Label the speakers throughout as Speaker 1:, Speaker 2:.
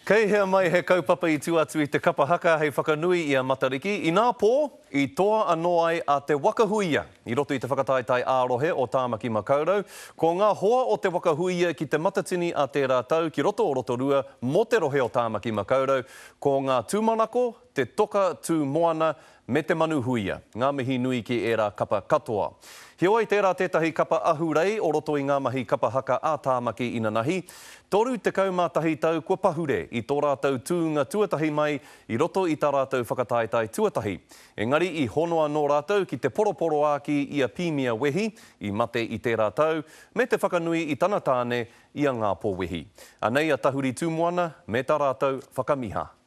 Speaker 1: Kei hea mai he kaupapa i tū atu i te kapa haka hei whakanui i a Matariki? Inā pō, i toa anō ai a Te Wakahuia i roto i te whakataetae ā-rohe o Tāmaki Makaurau. Ko ngā hoa o Te Wakahuia ki Te Matatini a tērā tau ki roto o Rotorua mō te rohe o Tāmaki Makaurau, ko ngā tūmanako, te toka tū moana, me te manu huia. Ngā mihi nui ki ērā kapa katoa. Heoi, tērā tētahi kapa ahurei o roto i ngā mahi kapa haka a Tāmaki inanahi, 31 tau kua pahure i tō rātou tūnga tuatahi mai i roto i tā rātou whakataetae tuatahi. Engari i hono anō rātou ki te poroporoāki i a Pīmia Wehi, i mate i tērā tau, me te whakanui i tana tāne, i a Ngāpō Wehi. Anei a Tahuri Tūmoana me tā rātou whakamiha.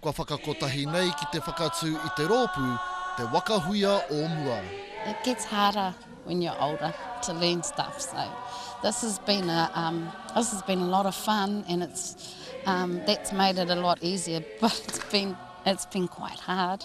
Speaker 2: Kua whakakotahi nei ki te whakatū i te rōpū te waka huia o mua. It gets harder
Speaker 3: when you're older to learn stuff so this has been a um this has been a lot of fun and it's um that's made it a lot easier but it's been it's been quite hard.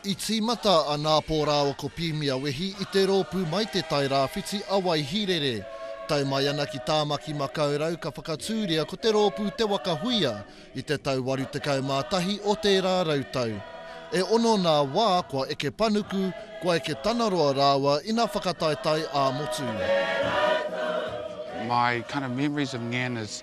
Speaker 2: I tīmata a Nāpō rāua ko Pīmia Wehi i te rōpū mai Te Tai Rāwhiti a Waihīrere. Tae mai ana ki Tāmaki Makaurau ka whakatūria ko te rōpū Te Waka Huia i te tau 81 o tērā rautau. E ono nā wā kua eke panuku, kua eke tanaroa rāua ina whakataetae ā-motu.
Speaker 4: My kind of memories of Ngana's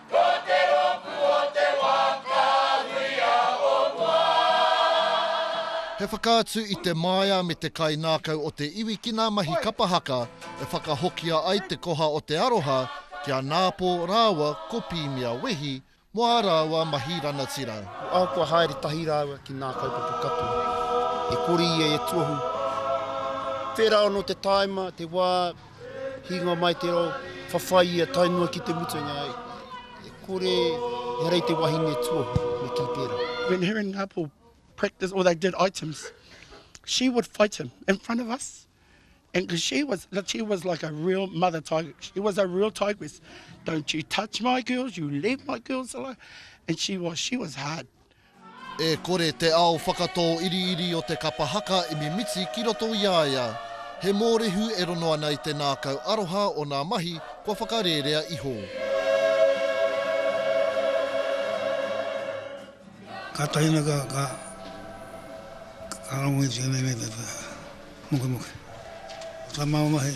Speaker 2: Ko te rōpū o te wā ka huia o mua. He whakaatu i te māia me te kainākau o te iwi ki ngā mahi kapa haka e whakahokia ai te koha o te aroha ki a Nāpō rāua ko Pīmia Wehi mō ā rāua mahi rangatira. Ko au kua haere
Speaker 5: tahi rāua ki ngā kaupapa katoa e kore ia e tuohu. Whērā anō te tāima, te wā, Hinga mai te rau, whawhai ia, tae noa ki te mutunga, e kore, he rei te wahine tuohu, me kī pērā. When her and Ngāpou
Speaker 6: practiced or they did items, she would fight him in front of us. And because she was, she was like a real mother tiger. She was a real tigress. Don't you touch my girls, you leave my girls alone. And she was, she was hard. E
Speaker 2: kore te ao whakatō iriiri o te kapa haka i mimiti ki roto i a ia. He mōrehu e rono ana i te nākau aroha o nā mahi kua whakarērea iho.
Speaker 7: Ka tahina ka ka ka rongo i tēnei nei te mokemoke. Ko tā māua mahi,